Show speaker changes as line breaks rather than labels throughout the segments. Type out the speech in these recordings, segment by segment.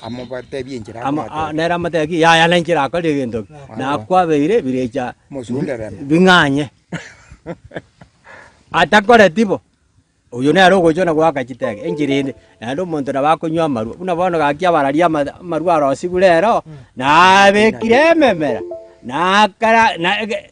Amobatebie enchera Ama- a- akobatebia. nere amatebia ki yaya nenchera akore egento ki na kwabeire ebirecha Mosunde remo. bing'anye atakoreti bo oyio nere ogochia na goaka chitege enchera ende naende omonto nabo akonywa amarwa buna bono gaki abararia ama- amarwa arosigure ero nabekire ememera nakara na ege.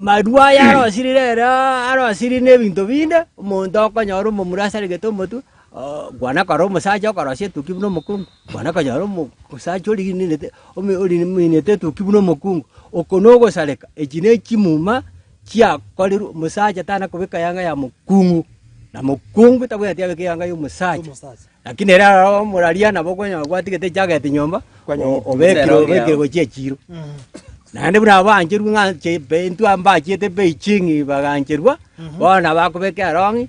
Marua aya arosirire ere arosirire nebinto binde, omonto okonyora omomura asarigete omotwe, kwana kare omosacha okorosia etuki buna omokungu, kwana konyora omosacha origininete ominete etuki buna omokungu. Oko nogosareka, echi nechimuma chiakorerwe omosacha tana kobeka eyanga ya mokungu, na mokungu tabwati abeke eyanga ya omosacha. Lakini ere aroro moraria nabo okonyora gwatigete echageti nyomba, o- obekire obekire gochia echiiro. Naende buna abancherwe ng'a nche mbe intwe mbachiete Beijing bagancherwa, bono nabo akobeka erong'i,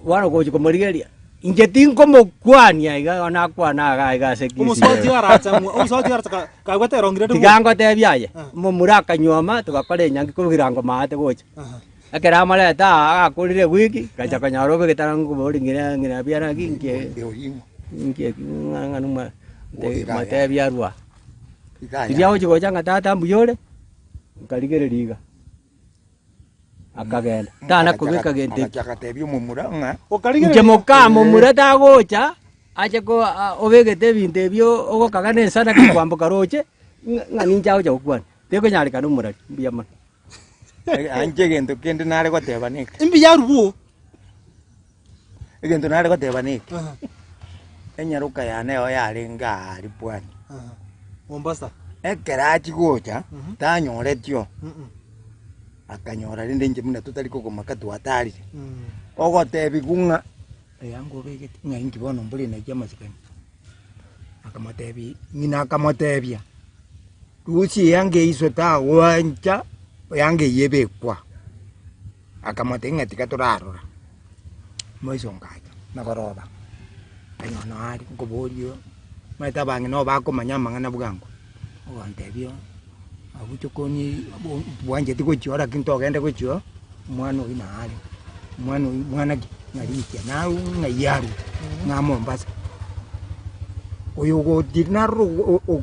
bono gochi komorigereria, inche tinkomokwania iga igo nakwane iga iga ase Omosuba otiga arache ng'o- omosuba otiga arache ka- kagwete erong'i rende Tiga ngotebie aye, omomura akanyuoma, togakora enyangi kobua erango maate gocha. Aha. Ekero amorete aa agakorire gwiki, ngacha konyora obe getanangu kobori ng'ina ng'ina biana ki nkie nkie ki ng'a ng'a numa motebi arua. Riria agochi gocha ng'a tata mbuya ore, nkarigereria iga, akagenda tana kobeka gento eki. Inche mokaa momura tagocha ache ko aa obegete ebinto ebio ogokaga na ensadaka kwamboka roche ng'a ng'a ninche agocha gokwana, tekonyarekana omorari, mbuya mono. Anche egento kende nare goteba neke. Imbi ya rubu. Egento nare goteba neke. Enyaroka yane eo yarenge aa Lipwani. Mombasa. Ekero achi gocha mhm. tanyoretio. Mhm. Akanyora rende inche muna totari kogomaka twatarire. Mhm. Ogotebigwa ng'a eyango obegete ng'a inki bono mbore naye amasikani. Akamotebia, ng'ina akamotebia, rusia eanga eye iswe tagwancha, eanga eye ebekwa. Akamotebia, ng'a tiga torarora. Maiso ngacha na koroba, kanyora nonya are nkoborio, omanyete abang'ina obakomanya amang'ana bwango. Ogotebia abwo tokonyii bwancheti gochia oo lakini togende gochia oo omwana oyio naye are omwana oyio mwana ki ng'arikia naye ng'ai arue ng'a Mombasa oyo ogotiri naroro oo.